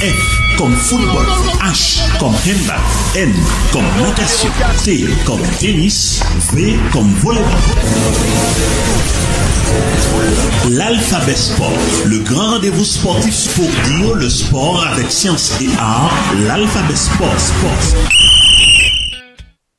F kòm foutbòl H kòm handball N kòm natasyon T kòm tenis V kòm volebòl L'alphabet sport Le grand rendez-vous sportif pour dire le sport avec science et art L'alphabet sport Sport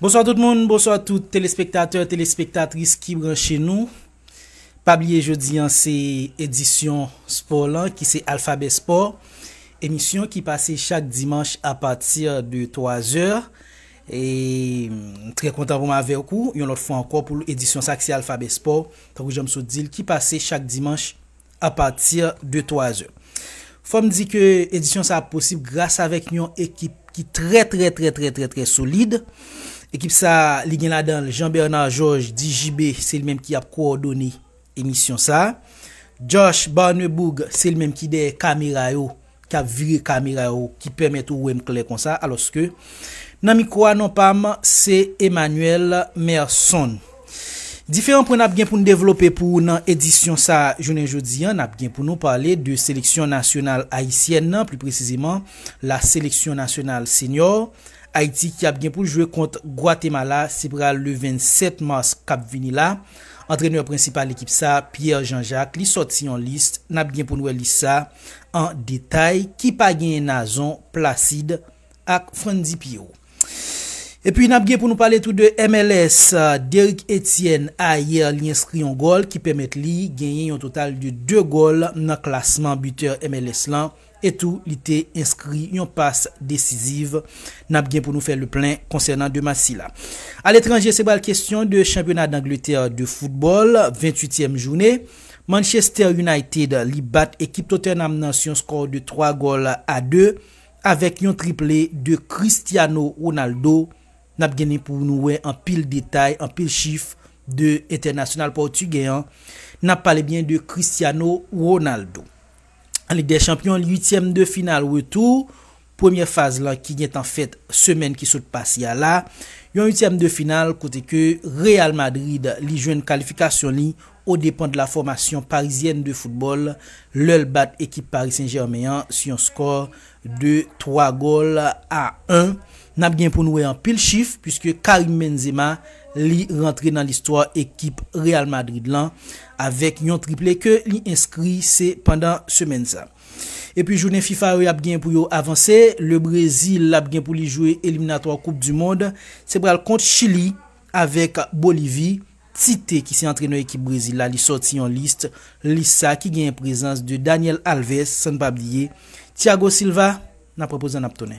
Bonswa tout moun, bonswa tout telespektatè, telespektatris ki branche nou. Pa bliye jodi an se edisyon spò lan ki se Alphabet Sport, emisyon ki pase chak dimanch a pati de 3 zè. E m trè kontan pou m avèk ou yon lòt fwa ankò pou edisyon sa ki se Alphabet Sport, tankou jan m sot di l ki pase chak dimanch a pati de 3 zè. Fò m di ke edisyon sa a posib gras avèk yon ekip ki trè trè trè trè trè trè solid. Ekip sa a li gen ladan l Jean Bernard Georges di JB se li menm ki ap kowòdone emisyon sa a. Josh Barneboug se li menm ki dèyè kamera yo. k ap vire kamera yo ki pèmèt ou wè m klè konsa alòske nan mikwo a non pa m se Emmanuel Merson. Diferan pwen n ap gen pou n devlope pou ou nan edisyon sa jounen jodi an, n ap gen pou nou pale de seleksyon nasyonal ayisyèn nan, pli presizeman la seleksyon nasyonal senyò Ayiti ki ap gen pou l jwe kont Gwatemala, se pral le 27 mas k ap vini la. Antrenè prensipal ekip sa, Pierre Jean Jacques, li sòti yon lis, n ap gen pou n wè lis sa. an detay ki pa genyen Nazon, Placide ak Frantdy Pierrot. Epi nap gen pou nou pale tou de MLS, Derrick Etienne ayè li enskri yon gòl ki pèmèt li genyen yon total de 2 gòl nan klasman butè MLS lan e tou li te enskri yon pas desiziv. Nap gen pou nou fè le plen konsènan 2 match sila. Aletranje se pral kestyon de chanpyona Dangletè de foutbòl, 28 tièm joune. Manchester United li bat ekip Tottenham nan s yon skò de 3 gòl a 2 avèk yon triple de Cristiano Ronaldo. N ap genen pou nou wè anpil detay, anpil chif de entènasyonal pòtigè an. N ap pale byen de Cristiano Ronaldo. An Lig dè Chanpyon, uityèm de final retou premyè faz lan ki gentan fèt semèn ki sot pase a la, yon uityèm de final kote ke Real Madrid li jwenn kalifikasyon li odepan de la fòmasyon parizyèn de foutbòl lè l bat ekip Paris Saint Germain an sou yon skò de 3 gòl a 1. N ap gen pou n wè anpil chif puiske Karim Benzema li rantre nan listwa ekip Real Madrid lan avèk yon triple ke li enskri se pandan semèn sa. Epi jounen fifa yo yap gen pou yo avanse, le Brezil ap gen pou li jwe eliminatwa koup du mond, se pral kont Chili avèk Bolivi, Tite ki se antrenè ekip Brezil la li sòti yon list, list sa ki genyen prezans de Daniel Alves san n pa bliye Thiago Silva, nap repozan nap tounen.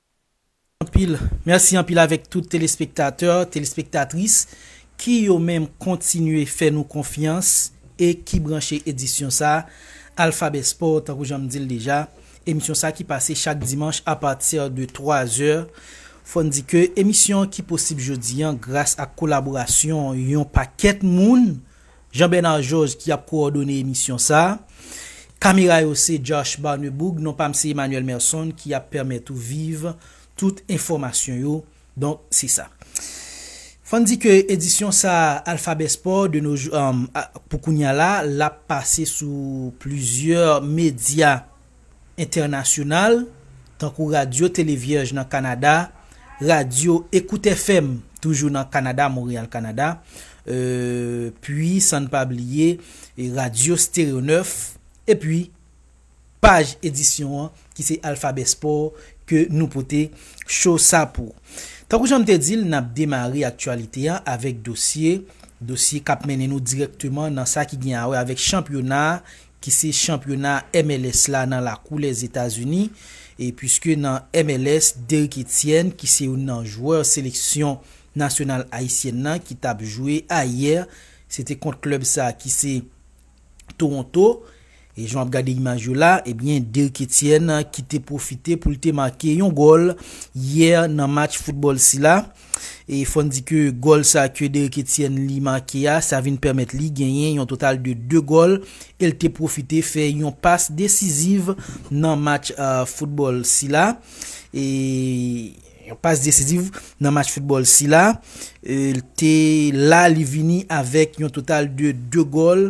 anpil, merci anpil avèk tout telespektatè, telespektatris ki yo menm kontinye fè nou konfyans e ki branche edisyon sa Alphabet Sport tankou jan m di l deja, emisyon sa ki pase chak dimanch a pati de 3 zè, fò n di ke emisyon ki posib jodi an gras ak kolaborasyon yon pakèt moun Jean Bernard Georges ki ap kowòdone emisyon sa. Kamera yo se Josh Barneboug, non pa m se Emmanuel Merson ki ap pèmèt ou viv tout enfòmasyon yo. Donk se sa. Fò n di ke edisyon sa Alphabet Sport de nos jours pou kounya la, l ap pase sou plizyè medya. entènasyonal, tankou Radyo Tele Vyèj nan Kanada, Radyo Ecoute FM toujou nan Kanada, Montréal, Kanada, epi san n pa bliye Radyo Stereo 9, epi paj edisyon an ki se Alphabet Sport ke nou pote cho sa pou. Tankou jan m te di l, n ap demare aktyalite an avèk dosye, dosye k ap mennen nou dirèkteman nan sa ki gen a wè avèk chanpyona ki se chanpyona MLS la nan lakou Lèzetazini, e puiske nan MLS, Derrick Etienne ki se youn nan jwè seleksyon nasyonal ayisyèn nan ki tap jwe ayè, se te kont klèb sa ki se Toronto, e jan w ap gade imaj yo la, ebyen Derrick Etienne ki te pwofite pou l te make yon gòl yè nan match foutbòl sila. E fò n di ke gòl sa ke Derrick Etienne li make a, sa vin pèmèt li genyen yon total de 2 gòl e l te pwofite fè yon pas desiziv nan match foutbòl sila. E yon pas desiziv nan match foutbòl sila. E l te la li vini avèk yon total de 2 gòl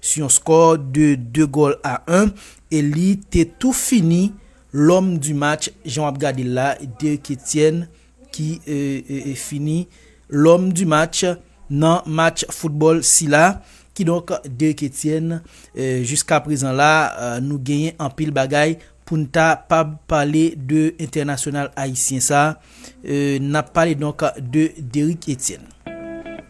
sou yon skò de 2 gòl a 1 e li te tou fini L'homme du match jan w ap gade l la, Dirk Etienne ki fini L'homme du match nan match foutbòl sila. Kidonk Dirk Etienne jiska prezan la nou genyen anpil bagay pou n ta pab pale de entènasyonal ayisyen sa. N ap pale donk de Derrick Etienne.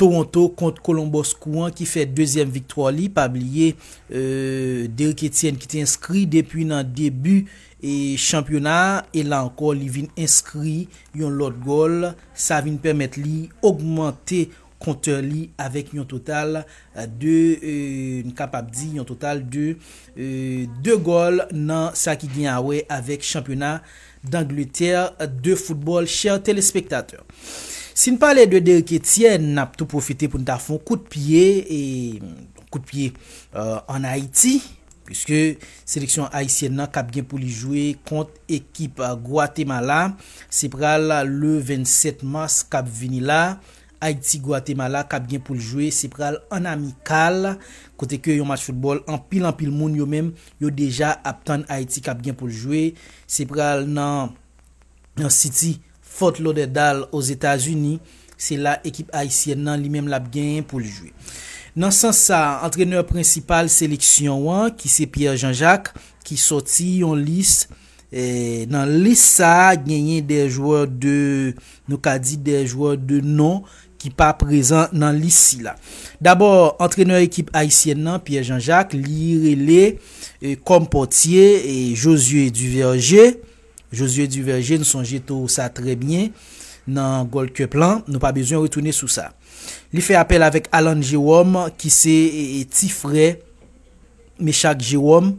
Toronto kont Columbus Crew an ki fè dezyèm viktwa li, pa bliye Derrick Etienne ki te enskri depi nan debi chanpyona a e la ankò li vin enskri yon lòt gòl, sa vin pèmèt li ogmante kontè li avèk yon total de n kapab di yon total de 2 gòl nan sa ki gen awè avèk chanpyona d'Angleterre de football chers telespektatè si n pale de Derick Etienne nap tou pwofite pou n ta fon kout pye kout pye an Ayiti puiske seleksyon Ayisyèn nan kap gen pou li jwe kont ekip Gwatemala se pral le 27 mars kap vini la Ayiti Gwatemala kap gen poul jwe se pral an amikal kote ke yon match foutbòl anpil anpil moun yo menm yo deja ap tann Ayiti kap gen poul jwe se pral nan nan City Fort Lauderdale Ozetazini se la ekip ayisyèn nan li menm lap gen poul jwe nan sans sa antrenè prensipal seleksyon an ki se Pierre Jean Jacques ki sòti yon lis Nan lis sa a genyen de jwè de nou ka di de jwè de non ki pa prezan nan lis sila. Dabò antrenè ekip ayisyèn nan Pierre Jean Jacques li rele kòm pòtye Josué Duverger. Josué Duverger n sonje tou sa trè byen nan Gold Cup lan nou pa bezwen retounen sou sa. Li fè apèl avèk Alan Jerome ki se ti frè Mechak Jerome.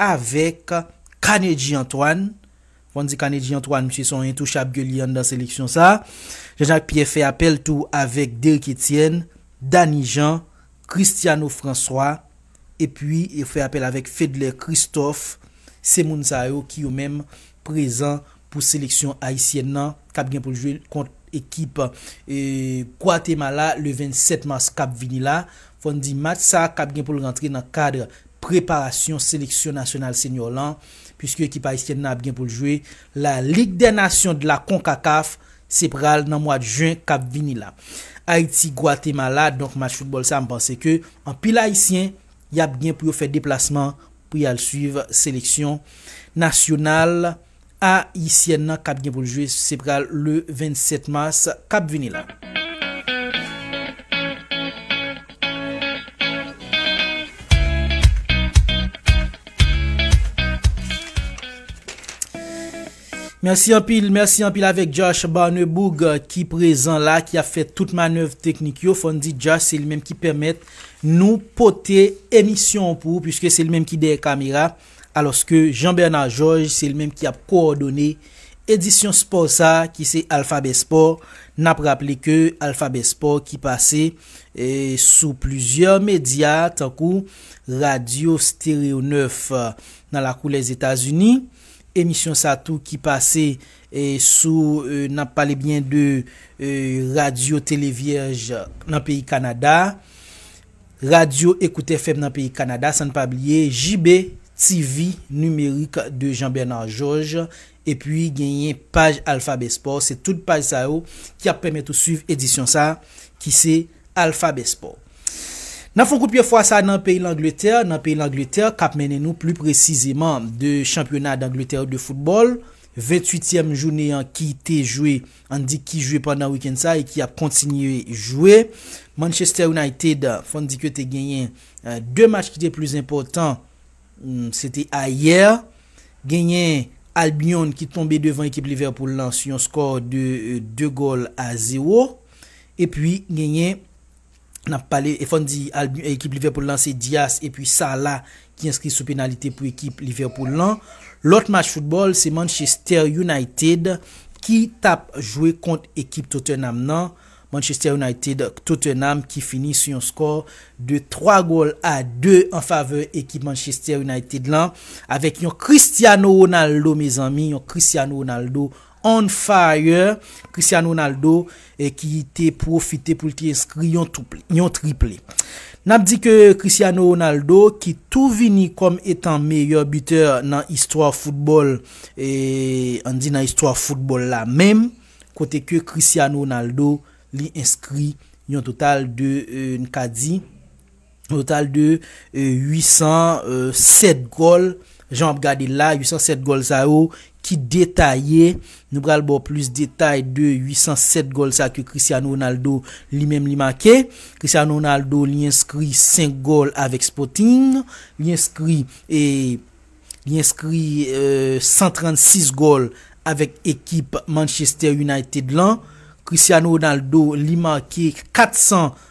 avèk Carnegie Antoine, fòn di Carnegie Antoine misye se yon entouchab ke li ye anndan seleksyon sa, Jean Jacques Pierre fè apèl tou avèk Derrick Etienne, Dany Jean, Cristiano François epi yo fè apèl avèk Fedler Christophe, se moun sa yo ki yo menm prezan pou seleksyon ayisyèn nan. k ap gen pou l jwe kont ekip Gwatemala le 27 mas k ap vini la. Fò n di match sa k ap gen pou l rantre nan kad preparasyon seleksyon nasyonal senior lan puiske ekip ayisyèn nan ap gen pou l jwe la Ligue des Nations de la Concacaf se pral nan mwad jen k ap vini la. Ayiti Gwatemala donk match foutbòl sa m panse ke anpil ayisyen y ap gen pou yo fè deplasman pou y al swiv seleksyon nasyonal A yisyèn nan kap gen pou l jwe se pral le 27 mas kap vini la. Mèsi anpil mèsi anpil avèk Josh Barneboug ki prezan la ki ap fè tout manèv teknik yo fòn di Josh se li menm ki pèmèt nou pote emisyon pou ou piske se li menm ki dèyè kamera alòske Jean Bernard Georges se l menm ki ap kowòdone edisyon spò sa ki se Alphabet Sport, n ap raple ke Alphabet Sport ki pase sou plizyè medya tankou radyo Stereo 9 nan lakou Lèzetazini, emisyon sa tou ki pase sou n ap pale byen de radyo Televierge nan peyi Kanada, Radyo Écoutez FM nan peyi Kanada, san n pa bliye JB TV Numérique de Jean Bernard Georges, epi genyen paj Alphabet Sport, se tout paj sa yo ki ap pèmèt ou swiv edisyon sa ki se Alphabet Sport. N ap fè yon kout pye fwa sa nan peyi Langletè, nan peyi Langletè k ap mennen nou pli presizeman de chanpyona Dangletè yo de foutbòl, 28 tièm jounen an ki te jwe. Ann di ki jwe pandan wikenn sa e ki ap kontinye jwe. Manchester United, fò n di ke te genyen 2 match ki te plis enpòtan, se te ayè. Genyen Albion ki tonbe devan ekip Liverpool lan sou yon skò de 2 gòl a 0. Epi genyen Nap pale e fò n di ekip Liverpool lan se Dias epi Salah ki enskri sou penalite pou ekip Liverpool lan. Lòt match foutbòl se Manchester United ki tap jwe kont ekip Tottenham nan. Manchester United Tottenham ki fini sou yon skò de 3 gòl a 2 an favè ekip Manchester United lan avèk yon Cristiano Ronaldo mezanmi yon Cristiano Ronaldo On fire, Cristiano Ronaldo ki te pwofite pou l te enskri yon triple. N ap di ke Cristiano Ronaldo ki tou vini kòm etan meyè bitè nan istwa foutbòl, an di nan istwa foutbòl la menm, kote ke Cristiano Ronaldo li enskri yon total de n ka di. Total de 807 gòl, jan w ap gade l la, 807 gòl sa yo ki detaye, nou pral ba w plis detay de 807 gòl sa ke Cristiano Ronaldo li menm li make. Cristiano Ronaldo li enskri 5 gòl avèk Sporting, li enskri li enskri 136 gòl avèk ekip Manchester United lan. Cristiano Ronaldo li make 400.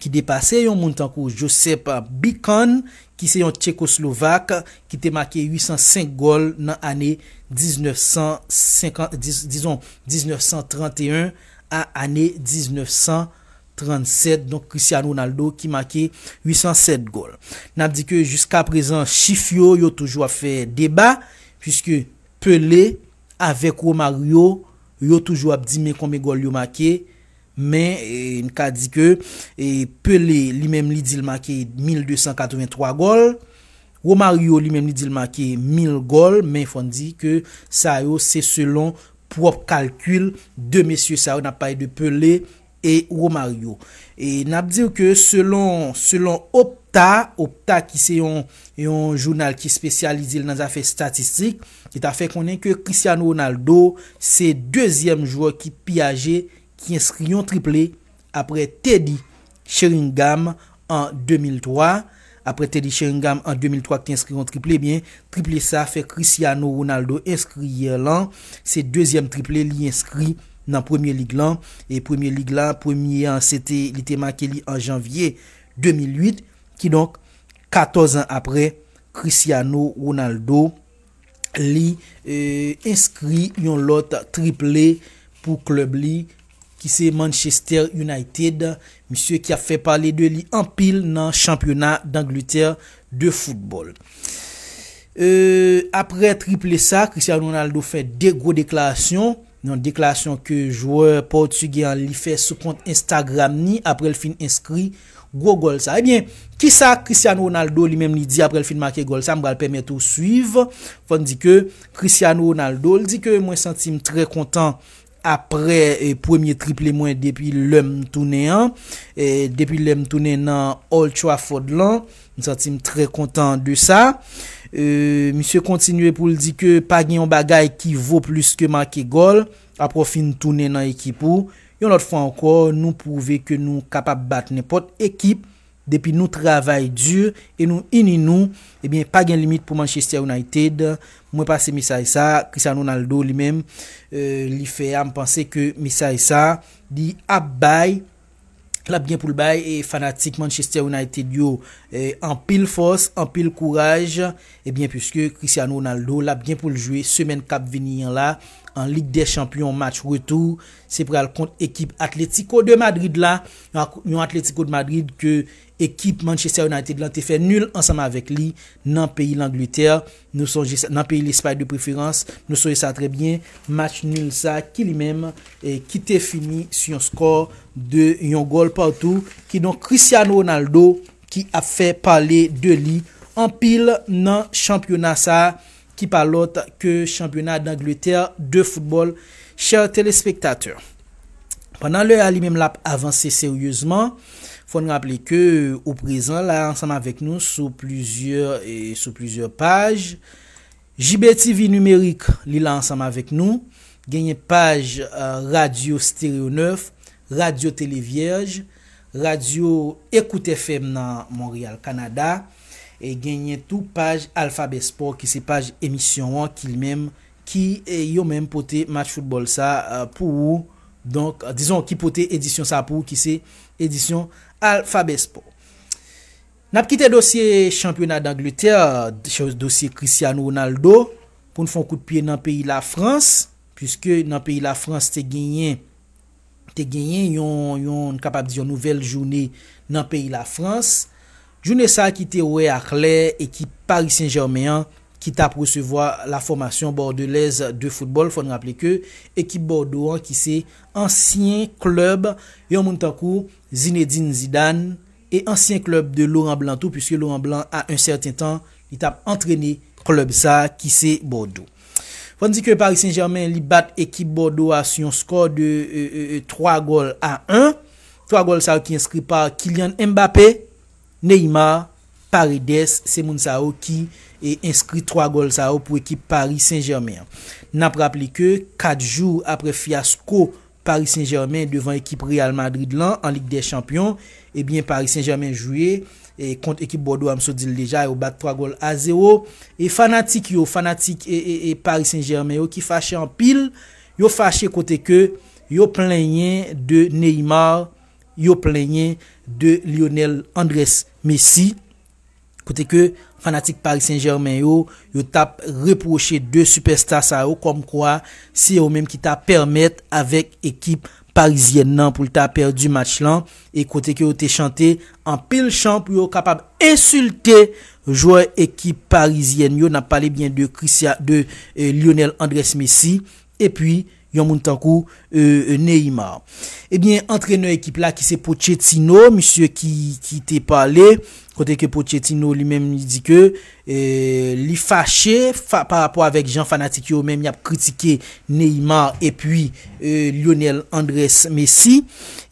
ki depase yon moun tankou Josep Bican ki se yon Tchekoslovak ki te make 805 gòl nan ane 1950, dizon 1931 a ane 1937, donk Christian Ronaldo ki make 807 gòl. N ap di ke jiska prezan chif yo, yo toujou ap fè deba, puiske Pelé avèk Romario, yo toujou ap di men konbyen gòl yo make, Men, n ka di ke Pelé li menm li di l make 1283 gòl. Romario li menm li di l make 1000 gòl, men fò n di ke sa yo se selon pwòp kalkil 2 mesye sa yo, n ap pale de Pelé e Romario. E n ap di w ke selon, selon Opta, Opta ki se yon, yon jounal ki espesyalize l nan zafè statistik, ki ta fè konnen ke Cristiano Ronaldo se dezyèm jwè ki pi aje ki enskri yon triple apre Teddy Sheringham an 2003. Apre Teddy Sheringham an 2003 ki te enskri yon triple, ebyen triple sa fè Cristiano Ronaldo enskri yè lan, se dezyèm triple li enskri nan Premier League lan. E Premier League la, premye an se te li te make li an Janvye 2008, kidonk 14 an apre Cristiano Ronaldo li enskri yon lòt triple pou klèb li ki se Manchester United, misye ki ap fè pale de li anpil nan chanpyona Dangletè de foutbòl. Aprè triple sa, Cristiano Ronaldo fè 2 gwo deklarasyon. Nan yon deklarasyon ke jwè pòtigè an li fè sou kont Instagram ni apre l fin enskri gwo gòl sa. Ebyen, kisa Cristiano Ronaldo li menm li di apre l fin make gòl sa? M pral pèmèt ou swiv. Fò n di ke Cristiano Ronaldo l di ke mwen santi m trè kontan apre premye triple mwen depi lè m tounen an, depi lè m tounen nan Old Trafford lan. M santi m trè kontan de sa. Misye kontinye pou l di ke pa gen yon bagay ki vo plis ke make gòl apre w fin tounen nan ekip ou. Yon lòt fwa ankò, nou pwouve ke nou kapab bat nenpòt ekip depi nou travay di e nou ini nou. Ebyen, pa gen limit pou Manchester United. Mwen pase mesaj sa a. Cristiano Ronaldo li menm, li fè a, m panse ke mesaj sa a li ap bay. l ap gen pou l bay fanatik Manchester United yo anpil fòs, anpil kouraj ebyen puiske Cristiano Ronaldo l ap gen pou l jwe semèn k ap vini an la an Lig dè Chanpyon match retou se pral kont ekip Atlético de Madrid la yon Atlético de Madrid ke Ekip Manchester United lan te fè nul ansanm avèk li nan peyi Langletè, nou sonje sa, nan peyi Lespay de preferans, nou sonje sa trè byen, match nul sa ki li menm ki te fini sou yon skò de yon gòl partou, kidonk Cristiano Ronaldo ki ap fè pale de li anpil nan chanpyona sa ki pa lòt ke chanpyona Dangletè de foutbòl, chè telespektatè. Pandan lè a li menm l ap avanse seryezman, fò n raple ke ou prezan la ansanm avèk nou sou plizyè sou plizyè paj. JBTV Nimerik li la ansanm avèk nou, genyen paj Radyo Stereo 9, Radyo Tele Vyèj, Radyo Ecoute FM nan Monreyal, Kanada, e genyen tou paj Alphabet Sport ki se paj emisyon an ki li menm ki yo menm pote match foutbòl sa pou ou donk dizon ki pote edisyon sa pou ou ki se edisyon Alphabet Sport. N ap kite dosye chanpyona Dangletè, dosye Cristiano Ronaldo pou n fon kout pye nan peyi Lafrans puiske nan peyi Lafrans te genyen. te genyen yon yon n kapab di yon nouvèl joune nan peyi Lafrans, joune sa ki te wè a klè ekip Paris Saint Germain an ki tap resevwa la fòmasyon bòdelèz de foutbòl, fò n raple ke ekip Bòdo an ki se ansyen klèb yon moun tankou Zinedine Zidane e ansyen klèb de Laurent Blanc tou, puiske Laurent Blanc a un sèten tan li tap antrene klèb sa ki se Bòdo. Fò n di ke Paris Saint-Germain li bat ekip Bordeaux a sou yon skò de 3 gòl a 1. 3 gòl sa yo ki enskri pa Kylian Mbappé, Neymar, Paredes, se moun sa yo ki enskri 3 gòl sa yo pou ekip Paris Saint-Germain an. N ap raple ke 4 jou apre fyasko Paris Saint Germain devan ekip Real Madrid lan an lig dè chanpyon ebyen Paris Saint Germain jwe kont ekip Bordeaux a m sot di l deja yo bat 3 gòl a 0 e fanatik yo fanatik Paris Saint Germain yo ki fache anpil yo fache kote ke yo plenyen de Neymar yo plenyen de Lionel Andrés Messi. kote ke fanatik Paris Saint Germain yo, yo tap repwoche 2 sipèsta sa yo kòm kwa se yo menm ki ta pèmèt avèk ekip parizyèn nan pou l ta pèdi match lan e kote ke yo te chante anpil chan pou yo kapab ensilte jwè ekip parizyèn yo, nap pale byen de Christian de Lionel Andres Messi Epi, yon moun tankou euh Neymar. Ebyen, antrenè ekip la ki se Pochettino, misye ki ki te pale, kote ke Pochettino li menm li di ke euh li fache fa pa rapò avèk jan fanatik yo menm y ap kritike Neymar epi euh Lionel Andrés Messi.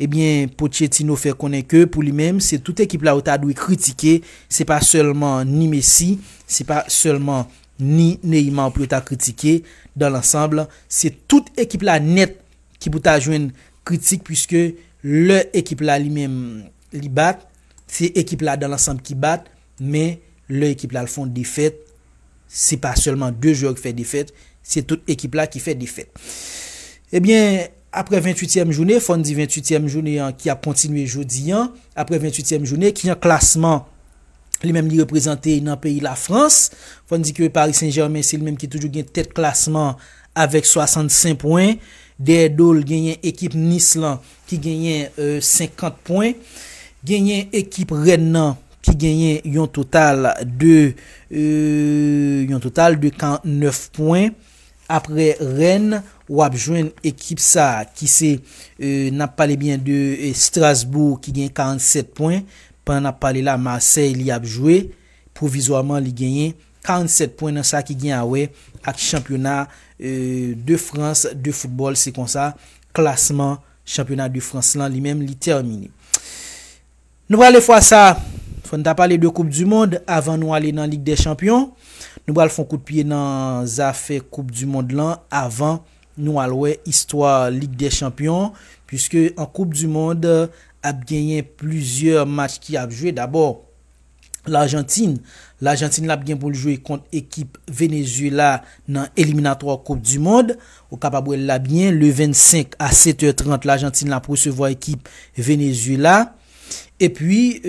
Ebyen, Pochettino fè konnen ke pou li menm se tout ekip la yo ta dwe kritike, se pa sèlman ni Messi, se pa sèlman. ni Neymar pou yo ta kritike, dans l'ensemble se tout ekip la nèt ki pou ta jwenn kritik puiske lè ekip la li menm li bat, se ekip la dans l'ensemble ki bat, men lè ekip la fon defèt se pa sèlman 2 jwè ki fè defèt, se tout ekip la ki fè defèt. Ebyen aprè 28 tièm joune, fòn di 28 tièm joune an ki ap kontinye jodi an, aprè 28 tièm joune ki nan klasman. li menm li reprezante nan peyi Lafrans. Fò n di ke Paris Saint-Germain se li menm ki toujou gen tèt klasman avèk 65 pwen. Dèyè do l genyen ekip Nice lan ki genyen 50 pwen. Genyen ekip Rennes nan ki genyen yon total de yon total de 49 pwen. Aprè Rennes, w ap jwenn ekip sa ki se n ap pale byen de Strasbourg ki genyen 47 pwen. Pandan n ap pale la Marseille li ap jwe, pwovizwaman li genyen 47 pwen nan sa ki gen a wè ak chanpyona de Frans de foutbòl, se konsa klasman chanpyona de Frans lan li menm li tèmine. Nou prale fwa sa, fò n ta pale de koup di mond avan nou ale nan lig dè chanpyon, nou pral fon kout pye nan zafè koup di mond lan avan. Nou al wè istwa Lig dè Chanpyon, puiske an Koup di Mond ap genyen plizyè match ki ap jwe. Dabò, Lajantin. Lajantin la ap gen pou l jwe kont ekip Venezyela nan eliminatwa Koup di Mond. Ou kapab wè l la byen, le 25 a 7 è 30 Lajantin la ap resevwa ekip Venezyela. Epi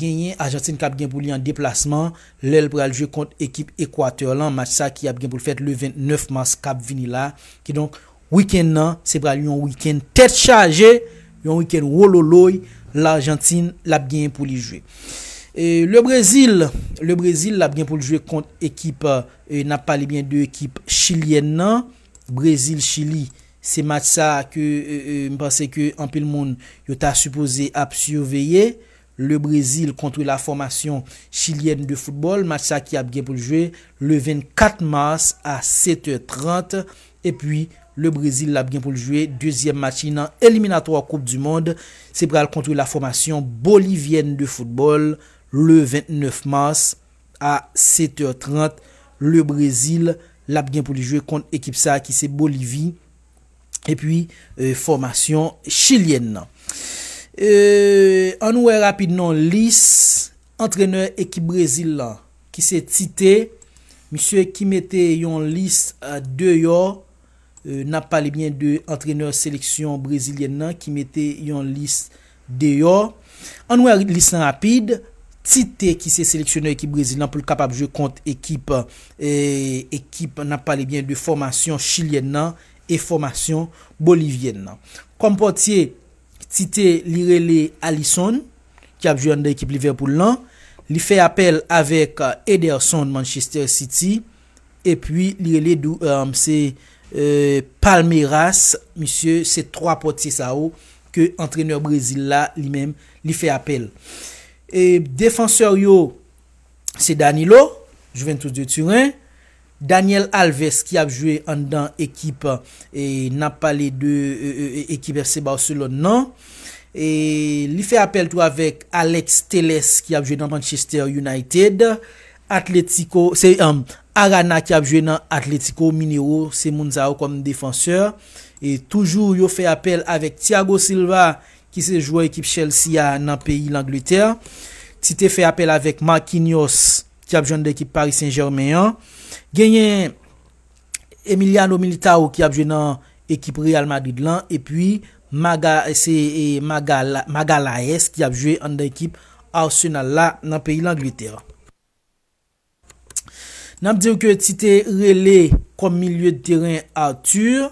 genyen Ajantin kap gen pou li an deplasman lè l pral jwe kont ekip Ekwatè lan match sa ki ap gen pou l fèt le 29 mas kap vini la. Kidonk wikenn nan se pral yon wikenn tèt chaje, yon wikenn wololoy Lajantin lap genyen pou li jwe. Le Brezil, le Brezil lap gen pou l jwe kont ekip, nap pale byen de ekip Chilyèn nan, Brezil Chili. Se match sa ke m panse ke anpil moun yo ta sipoze ap siveye, Le Brezil kontre la fòmasyon Chilyèn de foutbòl, match sa ki ap gen pou l jwe le 24 mars a 7 è 30, epi Le Brezil ap gen pou l jwe dezyèm match li nan eliminatwa koup di mond, se pral kontre la fòmasyon Bolivyèn de foutbòl le 29 mars. A 7 heures 30 le Brésil lap gen pou li jwe kont ekip sa ki se Bolivi epi fòmasyon chilyèn nan. Annou wè rapid non lis antrenè ekip Brésil lan ki se Tite misye ki mete yon lis deyò nap pale byen de antrenè seleksyon brezilyèn nan ki mete yon lis deyò. Ann wè lis lan rapid, Tite ki se seleksyonè ekip Brezil lan pou l kapab jwe kont ekip ekip n ap pale byen de fòmasyon chilyèn nan e fòmasyon bolivyèn nan. Kòm pòtye, Tite li rele Alisson ki ap jwe anndan ekip Liverpool lan. Li fè apèl avèk Ederson Manchester City. Epi li rele dou eum se Palmeiras misye se 3 pòtye sa yo ke antrenè Brezil la li menm li fè apèl. E defansè yo se Danilo, Juventus de Turen, Daniel Alves ki ap jwe anndan ekip e nap pale de ekip FC Barcelone nan. E li fè apèl tou avèk Alex Telles ki ap jwe nan Manchester United. Atletico se Arana ki ap jwe nan Atletico Mineiro se moun sa yo kòm defansè e toujou yo fè apèl avèk Thiago Silva ki se jwè ekip Chelsea a nan peyi Langletè. Ti te fè apèl avèk Marquinhos ki ap jwenn nan ekip Paris Saint Germain an. Genyen. Emiliano Militao ki ap jwe nan ekip Real Madrid lan epi Magalhaes ki ap jwe anndan ekip Arsenal la nan peyi Langletè. N ap diw ke ti te rele kòm milye de teren Arthur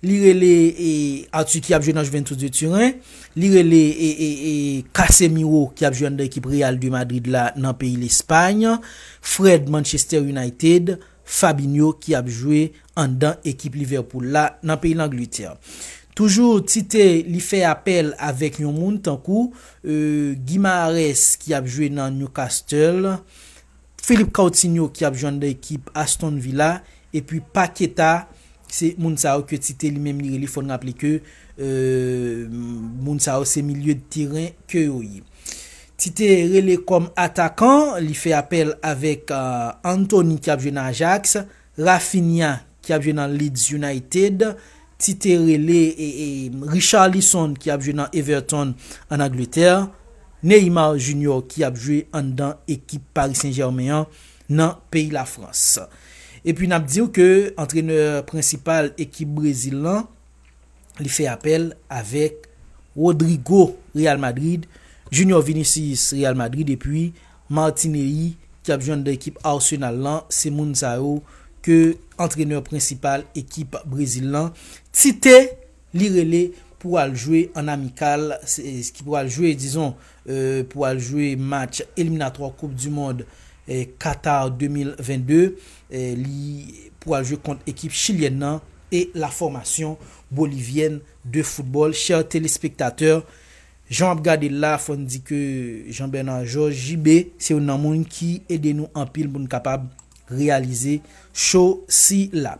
Li rele e Arthur ki ap jwe nan Juventus de Turen, li rele e e e Casemiro ki ap jwe anndan ekip Real de Madrid la nan peyi Lespagn, Fred Manchester United, Fabinho ki ap jwe anndan ekip Liverpool la nan peyi Langlitè. Toujou Tite li fè apèl avèk yon moun tankou e Guimaraes ki ap jwe nan Newcastle, Philippe Coutinho ki ap jwenn nan ekip Aston Villa epi Paqueta se moun sa yo ke Tite li menm li rele fò n raple ke moun sa yo se milye de teren ke yo ye. Tite rele kòm atakan li fè apèl avèk Antony ki ap jwe nan Ajax. Raphinha ki ap jwe nan Leeds United, ti te rele Richarlison ki ap jwe nan Everton an Angletè, Neymar Junior ki ap jwe anndan ekip Paris Saint Germain an nan peyi Lafrans. Epi nap diw ke antrenè prensipal ekip Brezil lan li fè apèl avèk Rodrygo Real Madrid, Junior Vinicius Real Madrid epi Martinelli ki ap jwenn dan ekip Arsenal lan, se moun sa yo ke antrenè prensipal ekip Brezil lan Tite li rele pou al jwe an amikal ki pral jwe dizon pou al jwe match eliminatwa koup du mond Qatar 2022 li pou al jwe kont ekip chilyèn nan e la fòmasyon bolivyèn de foutbòl chè telespektatè Jan wap gadel la fòn di ke Jean Bernard Georges, JB, se youn nan moun ki ede nou anpil poun kapab reyalize show sila.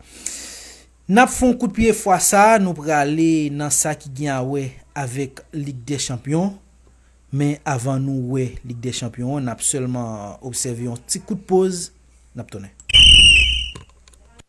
Nap fè yon kout pye fwa sa nou prale nan sa ki gen a wè avèk Lig dè Chanpyon, men avan nou wè Lig dè Chanpyon an nap sèlman obsève yon ti kout poz nap tounen.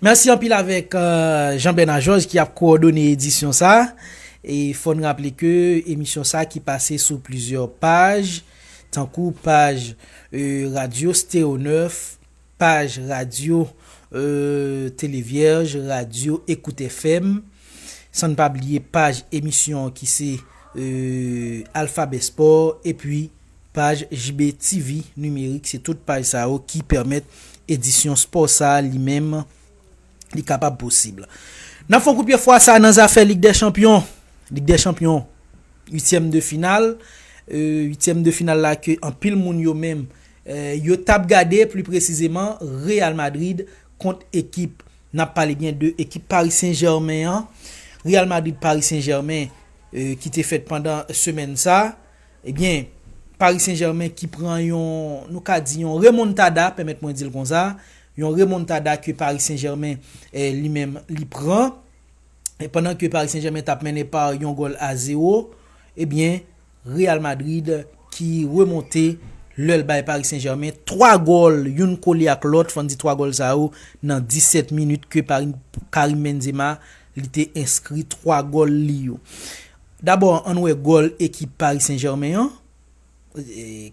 Merci anpil avèk Jean Bernard Georges ki ap kowòdone edisyon sa. E fò n raple ke emisyon sa ki pase sou plizyè paj, tankou paj euh, radyo Stereo 9, Paj radyo Tele Vyèj, radyo Ecout FM, san n pa bliye paj emisyon ki se Alphabet Sport epi paj JB TV Numerique se tout paj sa yo ki pèmèt edisyon spò sa li menm li kapab posib. N ap fè yon kout pye fwa sa nan zafè Lig dè Chanpyon, Lig dè Chanpyon uityèm de final, uityèm de final la ke anpil moun yo menm yo tap gade pli presizeman Real Madrid kont ekip nap pale byen de ekip Paris Saint Germain an Real Madrid Paris Saint Germain ki te fèt pandan semèn sa ebyen Paris Saint Germain ki pran yon nou ka di yon remontada pèmèt mwen dil konsa yon remontada ke Paris Saint Germain li menm li pran pandan ke Paris Saint Germain tap mennen pa yon gòl a 0 ebyen. Real Madrid ki remonte lè l bay Paris Saint Germain 3 gòl youn kole ak lòt fò n di 3 gòl sa yo nan 17 minit ke Karim Benzema li te enskri 3 gòl li yo. Dabò an n wè gòl ekip Paris Saint Germain an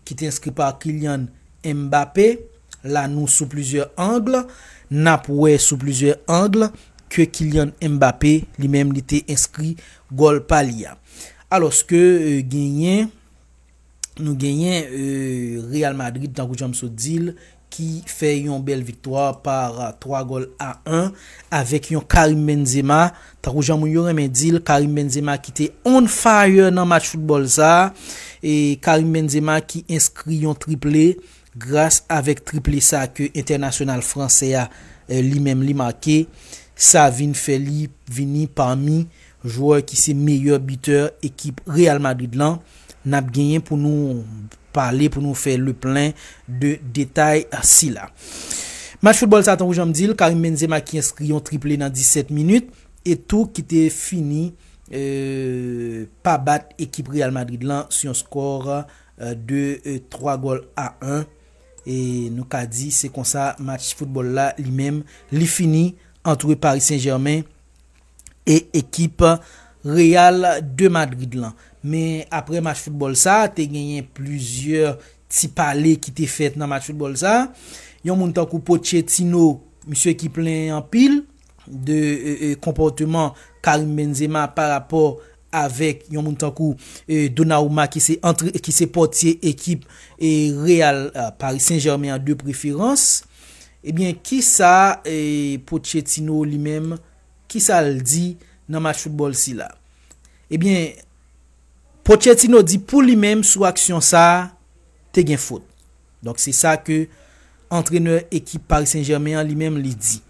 ki te enskri pa Kylian Mbappé la nou sou plizyè angle n ap wè sou plizyè angle ke Kylian Mbappé li menm li te enskri Gòl pa li a. Alòske genyen nou genyen Real Madrid tankou janm sot di l ki fè yon bèl viktwa par 3 gòl a 1 avèk yon Karim Benzema tankou jan moun yo renmen di l Karim Benzema ki te on fire nan match foutbòl sa e Karim Benzema ki enskri yon triple Gras avèk triple sa ke entènasyonal fransè a li menm li make, sa vin fè li vini pami jwè ki se meyè bitè ekip Real Madrid lan. N ap genyen pou nou pale, pou nou fè le plen de detay sila. Match foutbòl sa tankou jan m di l, Karim Benzema ki enskri yon triple nan 17 minit e tou ki te fini pa bat ekip Real Madrid lan sou yon skò. 2 3 gòl a 1 e nou ka di se konsa match foutbòl la li menm li fini antre Paris Saint Germain e ekip Real de Madrid lan. Men aprè match foutbòl sa te genyen plizyè ti pale ki te fèt nan match foutbòl sa yon moun tankou Pochettino misye ki plen anpil de konpòteman Karim Benzema pa rapò avèk yon moun tankou Donnarumma ki se pòtye ekip Real, Paris Saint-Germain an de preferans. Ebyen kisa Pochettino li menm kisa l di nan match foutbòl sila? Ebyen Pochettino di pou li menm sou aksyon sa te gen fot. Donk se sa ke antrenè ekip Paris Saint Germain an li menm li di.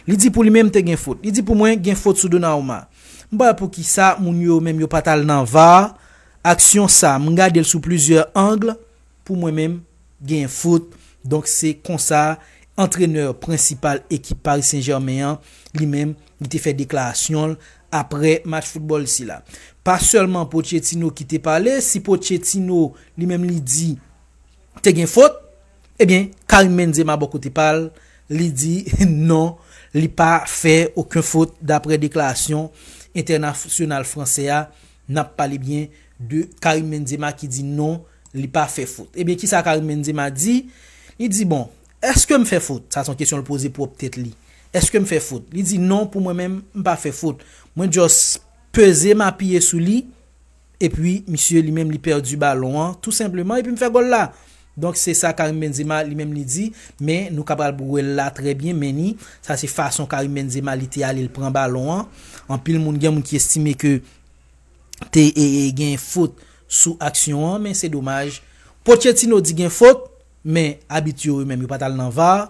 Li di pou li menm te gen fot. Li di pou mwen gen fot sou Donnarumma. M pa wè poukisa moun yo menm yo pat al nan var, aksyon sa m gade l sou plizyè angl, pou mwen menm genyen fot. Donk se konsa antrenè prensipal ekip Paris Saint Germain an li menm li te fè deklarasyon l aprè match foutbòl sila. Pa sèlman Pochettino ki te pale, si Pochettino li menm li di. te gen fot, ebyen Karim Benzema bò kote pa l, li di non li pa fè oken fot daprè deklarasyon entènasyonal fransè a, n ap pale byen de Karim Benzema ki di non li pa fè fot. Ebyen kisa Karim Benzema di, li di bon, èske m fè fot, sa se yon kesyon l poze pwòp tèt li, èske m fè fot, li di non pou mwen menm m pa fè fot, mwen just peze m apiye sou li, Epi misye li menm li pèdi balon an tou senpleman epi m fè gòl la. Donk se sa Karim Benzema li menm li di, men nou ka pral wè l la trè byen men ni sa se fason Karim Benzema li te ale l pran balon an. Anpil moun gen moun ki estime ke te gen fot sou aksyon an men se domaj Pochettino di gen fot men abit yo yo menm yo pa t al nan var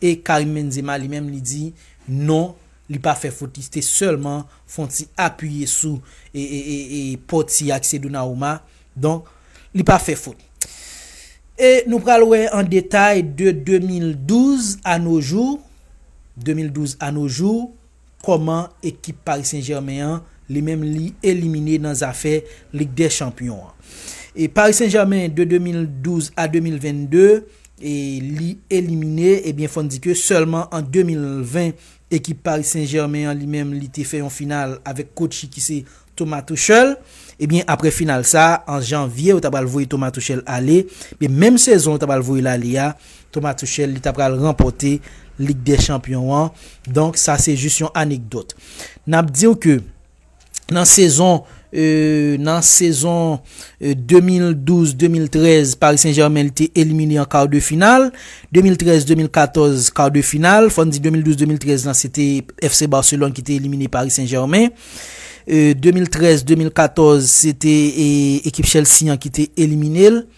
e Karim Benzema li menm li di non. Li pa fè fot li te sèlman fon ti apiye sou e poti ak se Donauma donk li pa fè fot e nou pral wè an detay de 2012 a no jou 2012 a no jou kòman ekip Paris Saint Germain an li menm li elimine nan zafè lig dè chanpyon an e Paris Saint Germain de 2012 a 2022 e li elimine ebyen fòn di ke sèlman an 2020. Ekip Paris Saint Germain an li menm li te fè yon final avèk kotchi ki se Thomas Tuchel. Ebyen aprè final sa an janvye yo ta pral voye Thomas Tuchel ale. Men menm sezon yo ta pral voye l ale a Thomas Tuchel li ta pral ranpòte Lig dè chanpyon an. Donk sa se jis yon anekdòt. N ap di w ke. nan sezon nan sezon 2012-2013 Paris Saint-Germain li te elimine an kar de final, 2013-2014 kar de final, fòn di 2012-2013 lan se te FC Barcelone ki te elimine Paris Saint-Germain, 2013-2014 se te ekip Chelsea an ki te elimine l.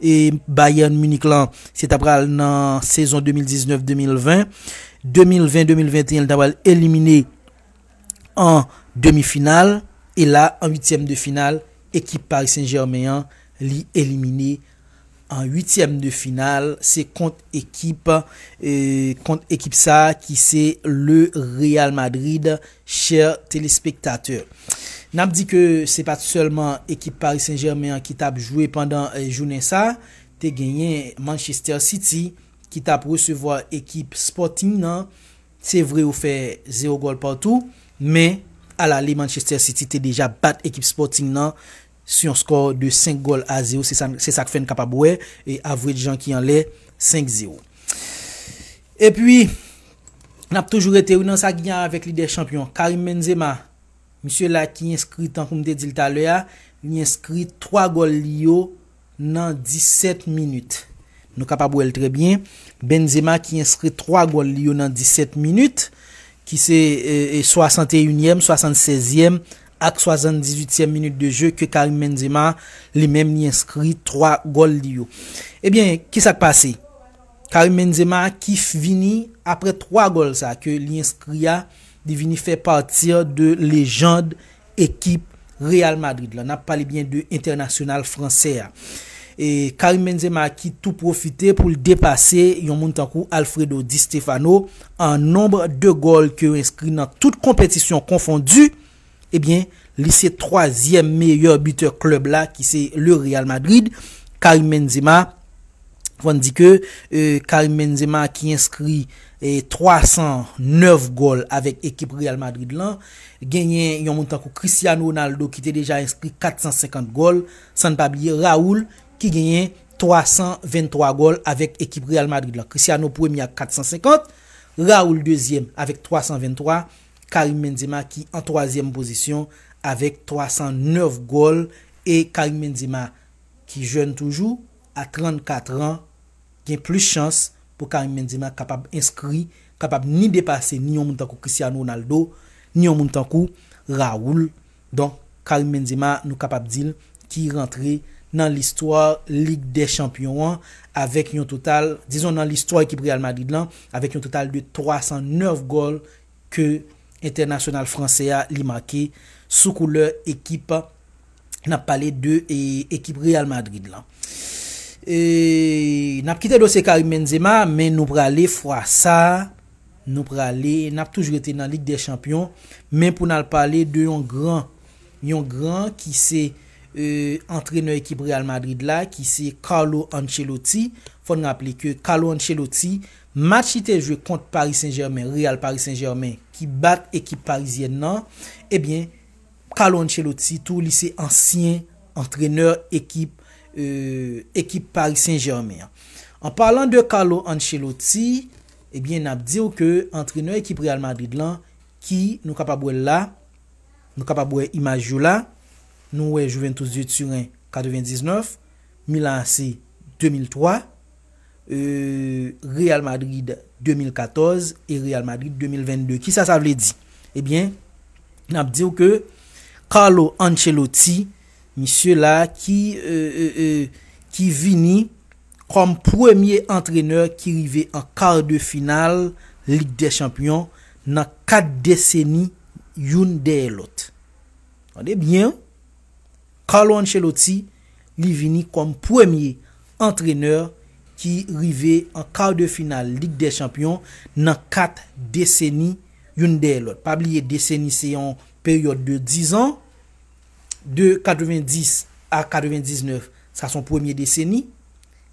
e Bayern Munich lan se ta pral nan sezon 2019, 2020, 2020, 2021 li ta pral elimine an demi final e la an 8 tièm de final ekip Paris Saint Germain an li elimine an 8 tièm de final se kont ekip kont ekip sa ki se le Real Madrid Chers téléspectateurs, n ap di ke se pa t sèlman ekip Paris Saint-Germain an ki t ap jwe pandan jounen sa, te genyen Manchester City ki t ap resevwa ekip Sporting nan, se vre yo fè 0 gòl partou, men alale Manchester City te deja bat ekip Sporting nan s yon skò de 5 gòl a 0 se sa se sa k fè n kapab wè Avre Djan ki anlè 5 0. Epi n ap toujou rete wi nan sa ki gen avè k lidè chanpyon Karim Benzema misye la ki enskri tankou m te di l talè a li enskri 3 gòl li yo nan 17 minit. Nou kapab wè l trè byen, Benzema ki enskri 3 gòl li yo nan 17 minit, ki se 61 yèm, 76 yèm ak 78 tièm minit de je ke Karim Benzema li menm li enskri 3 gòl li yo. Ebyen, ki sa k pase? Karim Benzema ki vini aprè 3 gòl sa ke li enskri a, li vini fè pati de lejand Ekip Real Madrid la, nap pale byen de entènasyonal fransè a, Karim Benzema ki tou pwofite pou l depase yon moun tankou Alfredo Di Stefano an nonb de gòl ke yo enskri nan tout konpetisyon konfondi, ebyen li se twazyèm meyè bitè klèb la ki se le Real Madrid, Karim Benzema, fò n di ke Karim Benzema ki enskri 309 gòl avèk ekip Real Madrid lan. Genyen yon moun tankou Cristiano Ronaldo ki te deja enskri 450 gòl, san n pa bliye Raúl ki genyen 323 gòl avèk ekip Real Madrid lan. Cristiano premye ak 450, Raúl dezyèm avèk 323, Karim Benzema ki an twazyèm pozisyon avèk 309 gòl e Karim Benzema ki jèn toujou a 34 an, gen plis chans pou Karim Benzema kapab enskri, kapab ni depase ni yon moun tankou Cristiano Ronaldo, ni yon moun tankou Raúl. Donk, Karim Benzema nou kapab di l ki rantre nan listwa Lig dè Chanpyon an avèk yon total, dizon nan listwa ekip Real Madrid lan, avèk yon total de 309 gòl ke entènasyonal fransè a li make sou koulè ekip nap pale de ekip Real Madrid lan. Nap kite dosye Karim Benzema men nou prale fwa sa nou prale nap toujou rete nan lig dè chanpyon men pou nal pale de yon gran yon gran ki se antrenè ekip Real Madrid la ki se Carlo Ancelotti fòn raple ke Carlo Ancelotti Match li te jwe kont Paris Saint Germain, Real Paris Saint Germain, ki bat ekip parizyèn nan, ebyen Carlo Ancelotti tou li se ansyen antrenè ekip ekip Paris Saint Germain an. An palan de Carlo Ancelotti, ebyen n ap di w ke antrenè ekip Real Madrid lan ki nou kapab wè l la, nou kapab wè imaj yo la, nou wè Juventus de Turen 99, Milan AC 2003, euh Real Madrid 2014 e Real Madrid 2022 kisa sa vle di ebyen nap diw ke Carlo Ancelotti misye la ki euh ki vini kòm premye antrenè ki rive an kar de final lig dè chanpyon nan 4 deseni youn dèyè lòt tande byen Carlo Ancelotti, li vini kòm premye antrenè ki rive an kar de final lig dè chanpyon nan 4 deseni youn dèyè lòt. Pa bliye deseni se yon peryòd de 10 an, de 90 a 99 sa son premye deseni,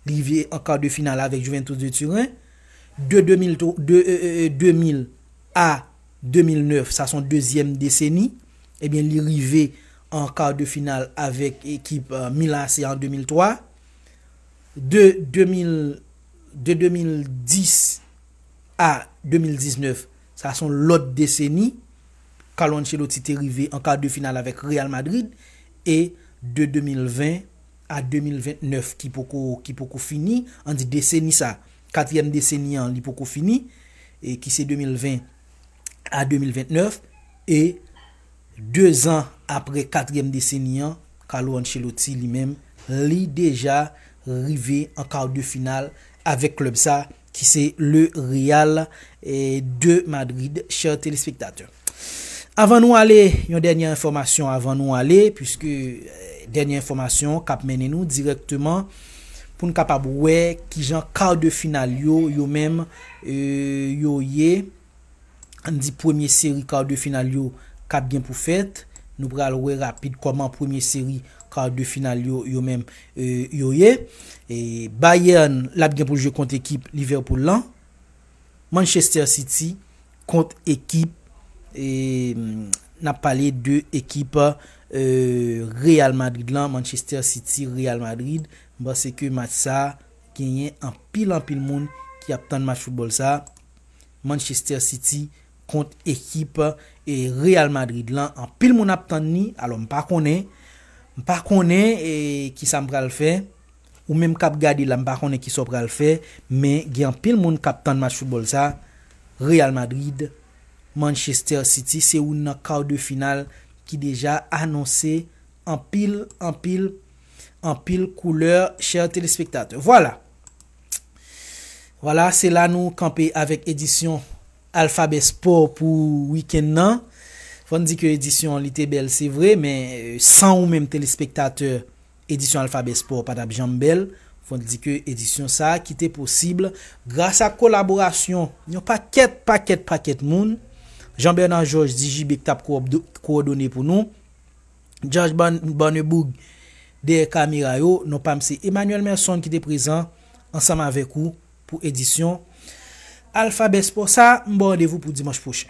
li rive an kar de final avèk Juventus de Turen, de 2000 a 2009, sa son dezyèm deseni, ebyen li rive an kar de final avèk ekip Milan AC an 2003. De 2010 a 2019, sa son lòt deseni, Carlo Ancelotti te rive an kar de final avèk Real Madrid e de 2020 a 2029 ki poko fini, an di deseni sa. Katriyèm deseni an li poko fini e ki se 2020 a 2029 e 2 zan apre katriyèm deseni an Carlo Ancelotti li menm li deja rive an kar de final avèk klèb sa ki se le Real de Madrid chè telespektatè. Avan nou ale, yon dènye enfòmasyon avan nou ale, puiske dènye enfòmasyon k ap mennen nou dirèkteman pou n kapab wè ki jan kar de final yo, yo menm, yo ye. An n di premye seri kar de final yo k ap gen pou fèt. Nou pral wè rapid kòman premye seri kar de final yo, yo menm, yo ye. Bayern l ap gen pou l jwe kont ekip Liverpool lan. Manchester City kont ekip nap pale de ekip Real Madrid lan Manchester City Real Madrid m panse ke match sa genyen anpil anpil moun ki ap tann match foutbòl sa Manchester City kont ekip Real Madrid lan anpil moun ap tann ni alò m pa konnen m pa konnen kisa m pral fè. Ou menm kap gade la m pa konnen kisa w pral fè men gen anpil moun kap tann match foutbòl sa, Real Madrid, Manchester City se oun nan quart de final ki deja anonse anpil anpil anpil koulè chè telespektatè. Vwala! Vwala se la nou kanpe avèk edisyon Alphabet Sport pou wikenn nan. Fò n di ke edisyon an li te bèl se vre men san ou menm telespektatè Edisyon Alphabet Sport pa t ap janm bèl, fò n di ke edisyon sa a ki te posib gras ak kolaborasyon yon pakèt, pakèt, pakèt moun, Jean Bernard Georges, Digibe ki t ap kowòdone pou nou, Judge Barneboug dèyè kamera yo, non pa m se Emmanuel Merson ki te prezan ansanm avèk ou pou edisyon Alphabet Sport sa a, m ba w randevou pou dimanch pwochen.